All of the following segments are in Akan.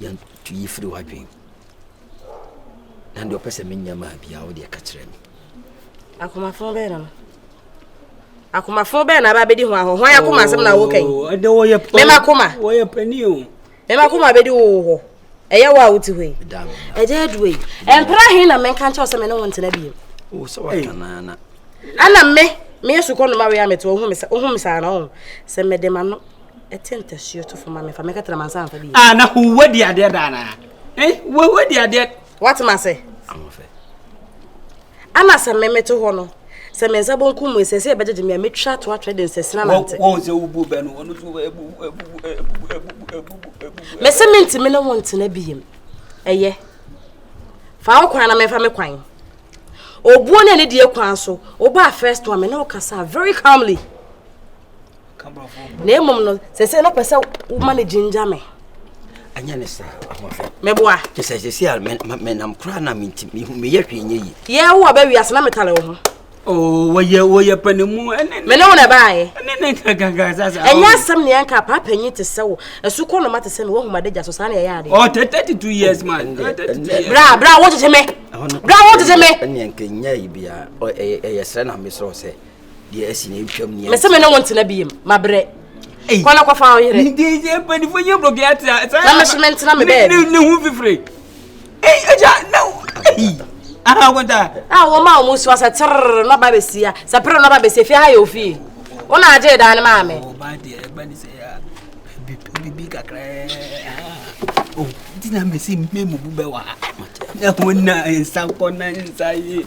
Yan tu yi firi w'adwen na deɛ ɔpɛ sɛ menyɛ maa biara wo deɛ ka kyerɛ me akomafo bɛn na no akomafo bɛn na aba bɛdi ho ahɔ hwan akoma asɛm na woka yi oh, ɛdɛ wɔyɛ pɛ mɛma koma wɔyɛ pɛni o mɛma koma bɛdi wo wɔ hɔ ɛyɛ wo a wote hɔ yi ɛdɛ aduwa yi ɛmpra he na menka nkyɛw sɛ me ne wo ntena bio wo sɛ watanana ana me meyɛ sukɔ noma wei a mete wo ho me saa na wo sɛ mede ma no ɛte ntasuo to fam amefa mɛka tena mansa amfa bi. Ah, na huwa di adeɛ da na. Eh, huwa di adeɛ. What ma se? Amofe. Ana sɛ memeto hɔ no sɛ me nsa bonkum mu sɛ sɛ ɛbɛgyegye me a mɛtwa to atwɛ de nsɛsena nante wɔn sɛ wobu bɛ no ɔno so mɛsɛ mentimi ne wo ntena bi yam ɛyɛ fa wo kwan na memfa me kwan obuo ne ne deɛ kwan so wobaa first one me ne wo kasa very calmly na mmom no sɛ sɛ na pɛ sɛ woma no gyingya me ɛnyɛ ne saa ahoɔfɛ mɛboa kyɛ sɛ sɛsi a menam koraa na meyɛ hwee nyɛ yi yɛ wo a bɛwi ase na metale wo ho wɔyɛ wɔyɛ panimu ɛne mene wo na ɛbaeɛ ɛne ne nkakanka sasa ɛnyɛ asɛm ne ɛnka paa panyin te sɛ wo ɛso kɔ noma te sɛ me woahuma dagya so saa na ɛyɛ adeɛ ɔtɛ thirty two years man bra bra wo tete me bra wo tete me ɛne ɛnka nyɛ yi bia ɛyɛ srɛ na mesrɛ sɛ deɛ asi na ɛtwam neɛ mese me ne wo ntena bi yam mabrɛ kɔna kɔfa wo yere mpanifo nyɛ brɔgɛ atea na meso mentena me bɛɛ ne ho fifire agya na ahakɔta a wɔma a wɔn nsuwa sɛ terror na ɔba bɛsia sɛ pere na ɔba bɛsia fie ha yɛ ofie wo na agye dan no maa me ɔba deɛ ɛba ne sɛ bibi kakraa o nti na mesi mmɛ mu bu bɛ wa na ho na nsa kɔ na nsa yi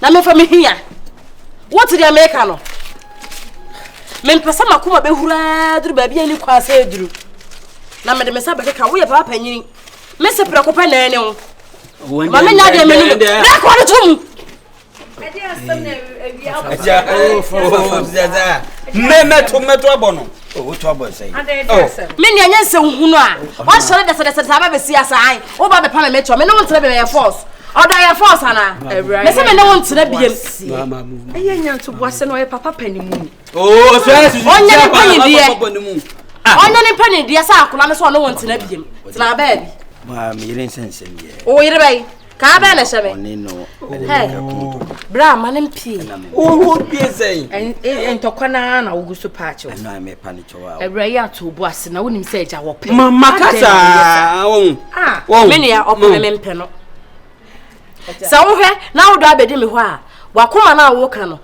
Na mefa me hia. Wote deɛ meka no? Mempɛ sɛ makoma bɛhuraa duru baabi a ne kwan sɛ aduru. Na mede me nsa bɛkeka woyɛ papa panyini. Me se prɛko pɛ na ɛne wo. Ma menya deɛ menu no. Prɛko no to mu. Mmɛmɛto mmɛto abɔ no. Owotu abɔ nsɛn. Me nua nyɛ nsɛm hunu a. Wasɔre dɛsɛdɛsɛ saa bɛbɛsi asan. Wo ba bɛpa me me kyɛ. Me ne wo ntena biem ɛyɛ force. Ɔdɔ yɛ force ana? Me sɛ me ne wo ntena biem. Ɛyɛ nya nto bo asɛ na ɔyɛ papa pɛ ne mu ni. Oo so ɛyɛ susu. Ɔnyɛ ne pɛ ne deɛ. Ɔnyɛ ne pɛ ne deɛ sɛ akola no sɛ ɔne wo ntena biem. Tena baabi. Maa me yere nsɛnsɛm yɛ. Wo yere bɛyi. kaa bɛɛ na ɛhyɛ me bra ma no mpie wowo pie sɛn ntɔkwa no ara na wogu so paakyew awura yi ato obu ase na wonim sɛ agya wɔpɛ mama kasaa wɔn me nua ɔpɛ me mpɛ no sɛ wohwɛ na wodɔ abɛdi me hɔ a wakoma no a woka no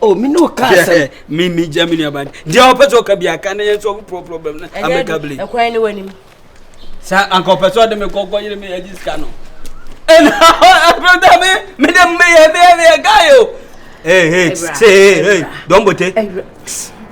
o mi n'o ka sɛ mi mi gya mi nuaba ni deɛ ɔpɛ sɛ ɔka bi aka ne yɛn nso ɔmo pɔrɔ problem na amɛka bile. ɛkwan ne w'anim. saa anka ɔpɛ sɛ ɔde mi kɔ kɔ yere mi yɛ gyi sika no ɛna ɛfɛ dɛ mi mi de mi yɛ mi yɛ mi yɛ gaa yi o. ee ee see ee dɔnbote.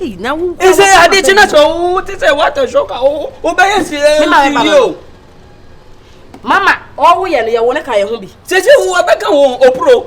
ɛsɛ ade kyi na sɛ wowo te sɛ wata show ka wowo wobɛyɛ si ɛyɛ o. mama ɔwo yɛ no yɛ wo ne ka yɛ ho bi. sisi wo abɛka wo opuro.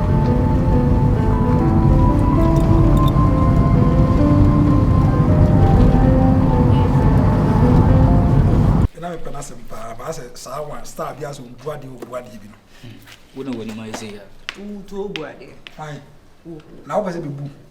na mepɛ n'asɛm paa baa sɛ saa wa star bi asɛ ɔbu adeɛ ɔbu adeɛ bi no wo na w'anim ayɛ sɛ yɛ wotu ɔbu adeɛ na wopɛ sɛ bɛbu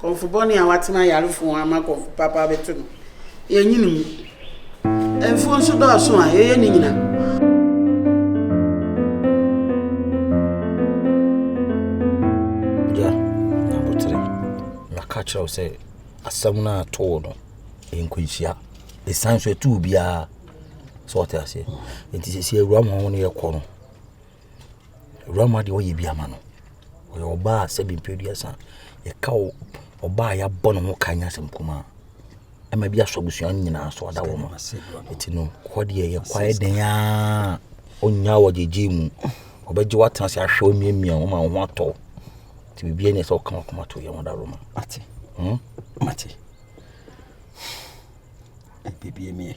Kɔmfo bɔne a watena yare fo ama kɔmfo papa abɛto no, yɛnyi no mu. Mfuo nso dɔɔso a, yɛyɛ ne nyina. Gya, abotere, maka kyerɛ wo sɛ asɛm no a too no, nkwanhyia. Ɛsan so ɛtoo biara sɛ ɔte aseɛ. Nti sɛ si awura ma wo ne yɛkɔ no. Owura Mah deɛ ɔyɛ bi ama no. Ɔyɛ ɔbaa a sɛbi mfeɛ aduasa. Yɛka wo ɔbaa a yɛabɔ ne ho ka nyɛ asɛm kumaa. Ɛma bi asɔ abusua no nyinaa so ada wɔn. Nti no hɔ deɛ yɛkɔ ayɛ den ara ɔnnya wo ɔgyegye mu. Ɔbɛgye wo atena ase ahwɛ wo amiamia wo ma wo ho atɔ wo. Nti biribiara nni hɔ sɛ woka w'akoma to yɛ ho Adaworoma. Mate. Hmm? Mate. Biribiara nie.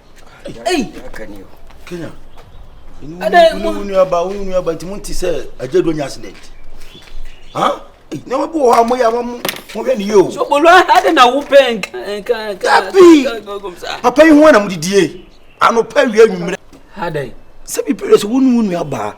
Ei! Kenya. Ɛdɛ wo nua ba wo nua ba nti mo nti sɛ agye do nya accident. Ha? Na mo bo hɔ mo ya mo mo hwɛ ne yo. So bolo ade na wo pɛ nka nka. Tapi. Papa yi ho na mo didie. Ano pa wi anwumre. Adai. Sɛ bi pere so wo nua ba.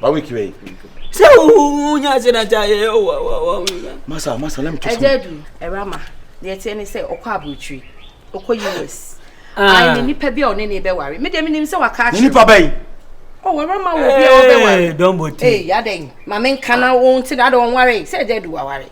Ba wiki wei. Sɛ wo nya se na ta ye wo wo wo. Masa masa let me talk. Eje du erama. Ne etie ne sɛ ɔkɔ aburukyiri. Ɔkɔ US. Ah. Ai nipa bi a ɔne ne bɛ ware. Me de me nim sɛ waka akyerɛ. Nipa bɛyi. Oh, where am I? Will be over. Hey, don't bother. Hey, yadeng. Mame nkana won't see that on worry. Say, Dedu, I worry.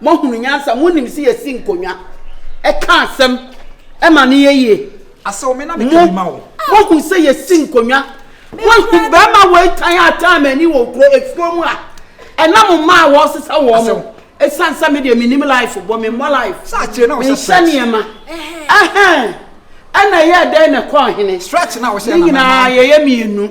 Moahunu nyansa, monim se yɛsi nkonwa, ka asem ma no yɛ yie. Aseo me na me ka bi ma wo. Moahu sɛ yɛsi nkonwa? Moahu barima wei tan a ɔtan m'ani wɔ nkuro afuo mu a ɛna mo mma a wɔresesa wɔn mo? Ɛsiane sɛ me deɛ mennim life bɔ, memmɔ life, menhyɛ nneɛma, ɛhɛn, ɛna ɛyɛɛ dɛn na ɛkɔɔ hene? Ne nyinaa yɛyɛ mmienu.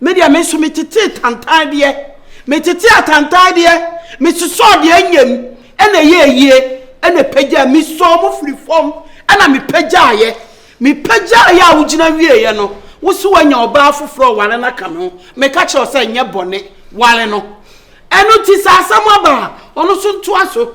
Me deɛ me nso me tetee tantan deɛ me tetee atantan deɛ me sosɔɔ deɛ anyam ɛna ɛyɛ ayie ɛna pagya me sɔɔ mo firi fam ɛna me pagyaeɛ me pagyaeɛ a wogyina wieeɛ no wo so wanya ɔbaa foforɔ ware no aka me ho meka kyerɛ sɛ nyɛ bɔne ware no ɛno ti sɛ asɛm aba a ɔno so ntoa so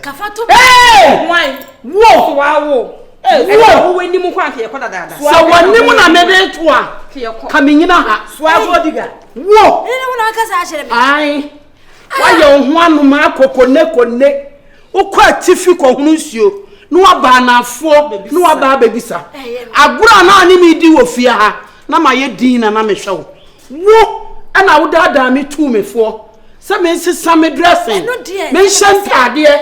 kafato hwan wo so wa wo ɛna wo wɔ anim kwan kɛ yɛkɔ dadaada sɛ wɔ anim na mede to a ka menyina ha soazo odiga wo ɛne wo na akasa akyerɛ me ae woayɛ wo ho anoma akɔkɔne kɔne wokɔ atifi kɔhono nsuo na waba anafoɔ na waba abɛbisa agorɔ a na ne medi wɔ fie ha na mayɛ din na na mehwɛ wo wo ɛna wodaadaa me tuu mefoɔ sɛ mensesa me dressing menhyɛ ntaadeɛ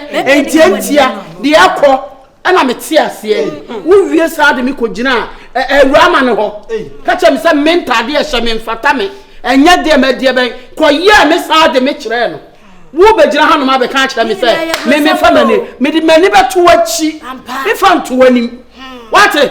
ntiantia deɛ ɛkɔ ɛna mete aseɛ wowie saa de me kɔgyina awurama no hɔ ka kyerɛ me sɛ me ntaadeɛ hyɛ me mfata me ɛnyɛ deɛ madeɛ bɛn kɔyɛɛ me saa de me kyerɛɛ no wobɛgyina ha nom abɛka akyerɛ me sɛ me mefa m'ani mede m'ani bɛto akyi mefa nto anim wate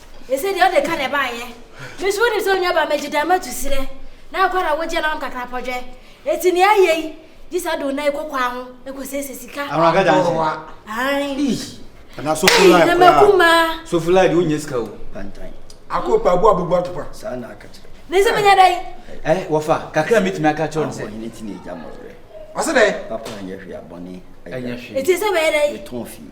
Ese deɛ ɔde ka na ɛbaeɛ. Me nso wonim sɛ onuabaa magye dan matu serɛ na akɔ ara wogye na ɔnom kakra pɔdwɛ. Enti nea ayɛ yi, gye sɛ ɔde wo nan yi kɔ kwaa ho kɔsiesie sika. Awuraba gya nhyɛ. Ae. Eesh. Ana sofo lai koraa. Ɛma kumaa. Sofo lai de wo nyɛ sika o. Pantan. Ako pa abu abubu atopa. Saa na aka kyerɛ. Ne sɛ menya dai. Eh, wɔfa, kakra a metumi aka kyerɛ no sɛ. Ɔbɔ hene ti na egya mɔwerɛ. Ɔsɛ dɛ. Papa nyɛ hwee abɔne. Ɛnyɛ hwee. Eti sɛ bɛyɛ dai. Metɔn fie.